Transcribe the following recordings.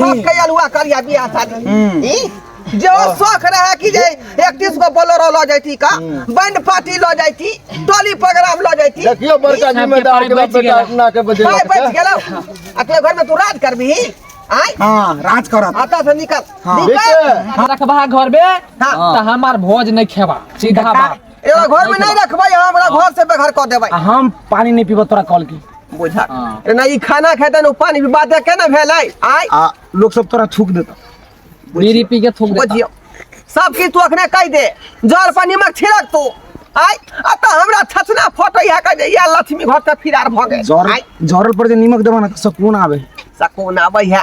बाप के अलुआ करिया बियाह शादी ई? जे ओ शौक रहे कि जे इकतीस गो बोलेरो लऽ जैती का बैंड पार्टी लऽ जैती टोली प्रोग्राम लऽ जैती देखियो बड़का सबके जिम्मेदार पाय के बच बेटा गेला। अपना के बजे भाय बच गेलो आ तू घर में तू राज करबी आय हाँ राज करत आता से निकल हाँ। निकल रखबा घर में हाँ। त हमार भोज नहीं खेबा सीधा बात एकरा घर में नहीं रखबै हम हमरा घर से बेघर कर देबै आ हम पानी नहीं पीबो तोरा कॉल की बुझा हाँ। ए, ना ई खाना खेतै ना उ पानी भी बात केना भेलै आय आ लोग सब तोरा थूक देता बीड़ी पी के थूक देता बुझियो सब किछ तू अखने कहि दे जल पर नमक छिड़क तू आय आ त हमरा छछना फटै है कहि दे या लक्ष्मी घर से फिरार भ गेल जर आय जरल पर जे नीमक देबा ना त सकून आवे सको ना आबै है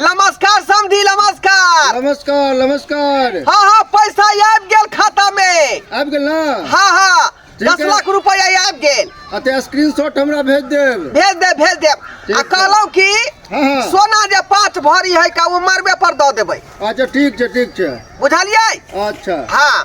नमस्कार समधी नमस्कार नमस्कार नमस्कार हाँ हाँ पैसा आबि गेल खाता में आबि गेल ना हाँ हाँ ठीक दस है। लाख रुपया आबि गेल अते स्क्रीनशॉट हमरा भेज देब भेज दे भेज दे ठीक आ है। कहलहुँ कि हाँ हाँ सोना जे पाँच भरी है का ओ मरबे पर दऽ देबै अच्छा ठीक छै ठीक छै बुझलियै अच्छा हाँ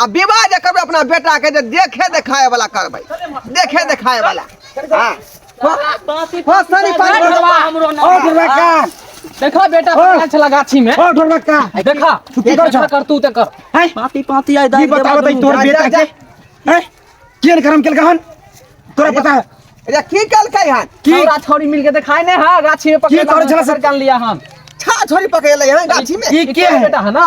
आ विवाह जे करबै अपना बेटाके जे देखे देखाए वाला करबै देखे देखाए वाला हाँ। हो- हो, सनी पानी भरवा। ओ ढोलका देखा बेटा पकड़ल छला गाछी में ओ ढोलका देखा छुट्टी कर छा कर तू ते कर हैं पाती पाती आइ ई बताओ दे तोर जा, बेटा जा, के हैं केन करम केल कहन तोरा पता है अरे की कलकै हन की हमरा छोरी मिल के देखाई नहीं हां गाछी में पकड़ की करै छला से? कर लिया हम छा छोरी पकड़ले हन गाछी में ई के है बेटा है ना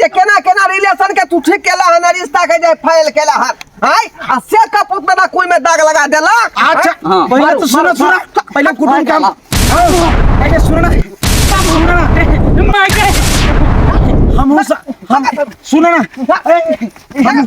जे केना केना रिलेशन के तू ठीक केला हन रिश्ता के जे फाइल केला हन हाय आ से कपूत में ना कोई में दाग लगा देला अच्छा हाँ। पहले तो सुनो सुनो पहले कुटुम काम पहले सुनो ना तब सुनो ना ए, माय के हम हो सा- हम सुनो ना ए, हम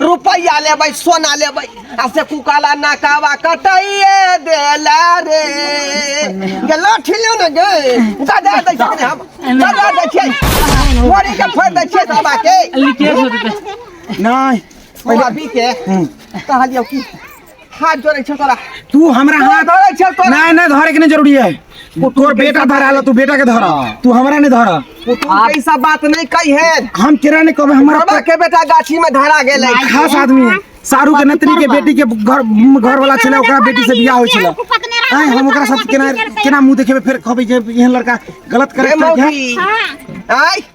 रुपैया लेबै सोना लेबै आ से कुकाला नाकावा कटाइए देला रे गे लाठी लियो ने गे दादा दै छै ने हम दादा दै छै मोरी के फोड़ दै छै बाबा के लिखे हो जेतै नहि अभी के कहलियौ की हाथ जोड़े छे तोरा तू हमरा हाथ धरे छे तोरा नहीं नहीं धरे के नहीं जरूरी है तोर बेटा धरा ला तू बेटा के धरा हाँ। तू हमरा नहीं धरा तू ऐसा बात नहीं कही है हम केरा नहीं कहबे हमरा के बेटा गाछी में धरा गेल खास आदमी है सारू के नतनी के बेटी के घर घर वाला छले ओकरा बेटी से बियाह होय छले आय हम ओकरा साथ केना केना मुंह देखेबे फिर कहबे जे एहन लड़का गलत करे के है आय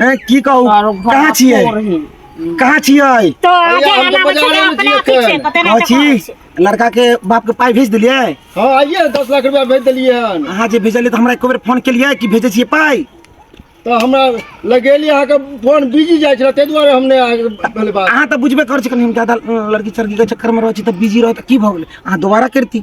हैं की कहू आरो घर कहाँ छियै तोड़ ही। कहाँ छियै तो आगे भैया, हम तो आना बच्चा बाजारे में अपना छियै पीछे एखन। पता ना कहाँ कहाँ छी छै। लड़का के बाप के पाइ भेज देलियै हाँ आइए दस लाख रुपया भेज दिलिए हन अहाँ जे भेजलियै तऽ हमरा एको बेर फोन केलियै कि भेजै छियै पाइ तो हमरा लगेली अहाँ के फोन बिजी जाए छला ताहि दुआरे हमने अहाँ के भेल बात अहाँ तऽ बुझबे करै छी कनि हम ज्यादा अ, लड़की चड़की के चक्कर में रहै छी तऽ बिजी रहत की भऽ गेलै अहाँ दोबारा करती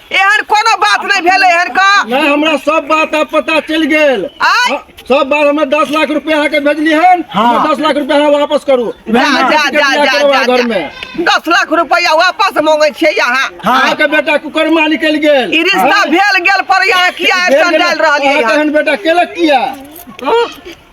एहन कोनो बात नहि भेलै एहन का नहीं हमरा सब बात अब पता चल गेल आय? हाँ, सब बात हमें दस लाख रुपया अहाँ के भेजली हन हाँ। हमें दस लाख रुपया अहाँ वापस करू जा जा जा जा जा, घर में जा दस लाख रुपया वापस मांगे छियै यहाँ अहाँ के बेटा कुकरमा निकल गेल ई रिश्ता भेल गेल पर यहाँ किया भेल ऐसा गेल। डाल रहलियै अहाँ के यहाँ? हन बेटा केलक किया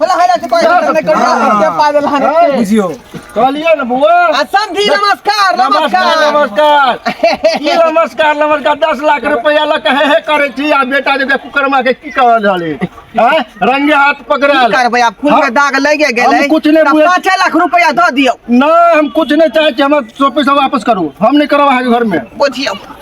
होला होला से कोई बात नहीं करियो के पाए वाला है बुझियो कहलिए ना बुआ आ समझी नमस्कार नमस्कार नमस्कार नमस्कार ई नमस्कार नमस्कार दस लाख रुपया लग हे हे करे छी आ बेटा जब कुकरमा के की कहल हले हैं रंगे हाथ की पकड़ल करबै आप खून हाँ। में दाग लगे हम गेलै कुछ नहीं तब बुझे- पाँच लाख रुपया दऽ दियौ ना हम कुछ नहीं चाहे छी हमर सौ पैसा वापस करू हम नहीं करब अहाँके घर में बुझियौ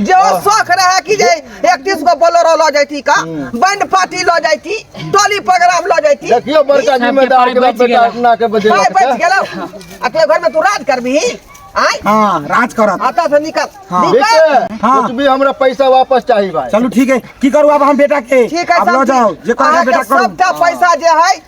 जे ओ शौक रहे कि जे एकतीस गो बोलोरो लऽ जैती का बैंड पार्टी लऽ जैती टोली प्रोग्राम लऽ जैती देखियो बड़का जिम्मेदार के बाप बेटा अपना के बजे पाय बच लगता गेलौ आ तोरा घर में तू राज करबी आय हाँ राज करत आता से निकल हाँ। निकल देखिए हाँ। कुछ भी हमरा पैसा वापस चाहिए भाई चलू ठीक है की करू अब हम बेटा के ठीक है अब लो सब जाओ जे चीज। करेगा अहाँके बेटा करू सबटा पैसा जे है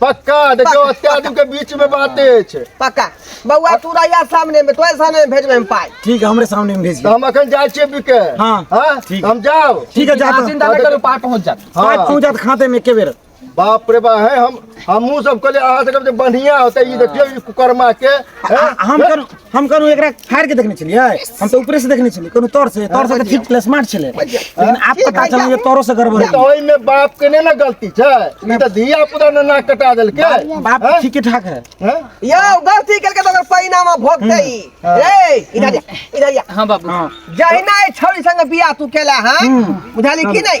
पक्का देखियो पक्का, अत्या आदमी के बीच में बाते छै पक्का बौआ तू रहिया सामने में तोरे सामने में भेजबै हम पाइ ठीक है हमरे सामने में भेज तो दिया हम अखन जाय छियै बिके हाँ, हां ठीक। हम जाओ ठीक है जाता चिंता नहीं करू पार पहुंच जात पाँच हाँ पहुंच जात खाते में एके बेर बाप रे बा है हम हमहू सब कहले अहाँ सब जे बढ़िया होते ई देखियो ई कुकर्मा के हैं? आ- आ- हम करू हम कहलहुँ एकरा फाड़ि के देखने छलियै हम तऽ ऊपरे से देखने छलियै कोनो तौर से तौर से तऽ ठीक छलै स्मार्ट छलै लेकिन आब पता चलल जे तौरो से गड़बड़ तऽ ओहिमे बाप के नहि ने गलती छै ई तऽ धिया पुता ने नाक कटा देलकै बाप हैं? ठीके ठाक है हैं? यो गलती करके तो अगर परिणाम भोगते ही हाँ। रे इधर जा, इधर जा। हाँ बाबू हाँ जहिना ए छौरी संग बियाह तू केला हां बुझाली कि नहीं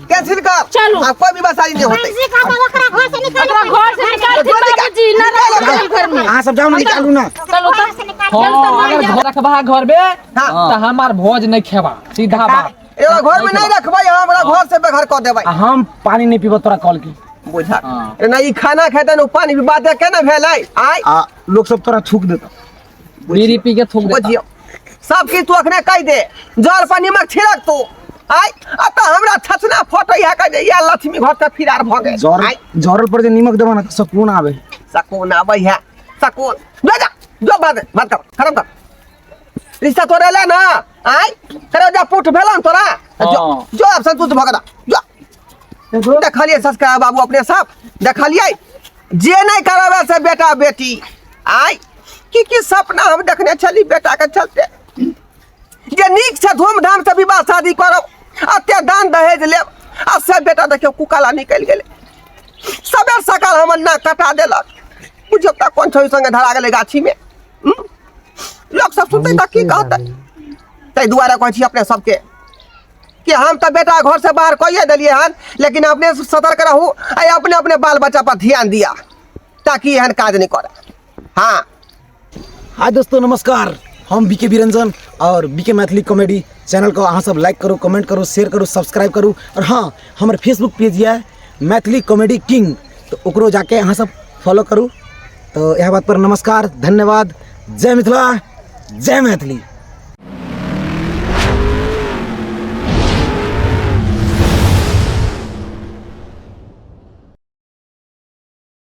कैंसिल कर चलो। अब कोई भी बसाई नहीं होते जी का बाबा करा घर से निकाल ओकरा घर से निकाल दे बाबूजी ना रखल घर में अहाँ सब जाओ ना निकालू ना चलो घर से निकाल हाँ अगर घर रखबा घर में हाँ। तो हमार भोज नहीं खेबा सीधा बात एगो घर में नहीं रखबै हमरा घर से बेघर कर देबै आ हम पानी नहीं पीबो तोरा कॉल की बुझा हाँ। ना ई खाना खेतन उ पानी भी बात केना भेलै आय आ लोग सब तोरा थूक देता बीड़ी पी के थूक देता बुझियो सब किछु तू अखने कहि दे जर पर नीमक छिड़क तू आय आ त हमरा छछना फोटो इहा कहि दे या लक्ष्मी घर से फिरार भ गए जर आय जरल पर जे नीमक देबा ना त सकून आवे सकून आबै है सकून ले जा जो बात है, बात कर खत्म कर रिश्ता तोरे ले ना आय करे जा पुट भेलन तोरा जो हाँ। जो अब संतुष्ट भगदा जो देखलियै सस्का बाबू अपने सब देखलियै जे नहि करबै से बेटा बेटी आइ की की सपना हम देखने छली बेटाके चलते जे नीक से धूमधाम से विवाह शादी करब अते दान दहेज लेब आ से बेटा देखियौ कुकाला निकलि गेलै सबेर सकाल हमर नाक कटा देलक बुझियौ तऽ कोन छोरी सङ्गे धरा गेलै गाछीमे हम्म? लोक सब सुनतै तऽ की कहतै ताहि दुआरे कहै छी अपने सबके कि हम तो बेटा घर से बाहर कहिए दिलिए हन लेकिन अपने सतर्क रहू आ अपने अपने बाल बच्चा पर ध्यान दिया ताकि एहन काज नहीं करे हाँ हाय दोस्तों नमस्कार हम बीके बिरंजन और बीके मैथिली कॉमेडी चैनल को अहाँ सब लाइक करू कमेंट करू शेयर करू सब्सक्राइब करू और हाँ हमारे फेसबुक पेज है मैथिली कॉमेडी किंग तऽ ओकरो जाके अहाँ सब फॉलो करू तऽ इएह बात पर नमस्कार धन्यवाद जय मिथिला जय मैथिली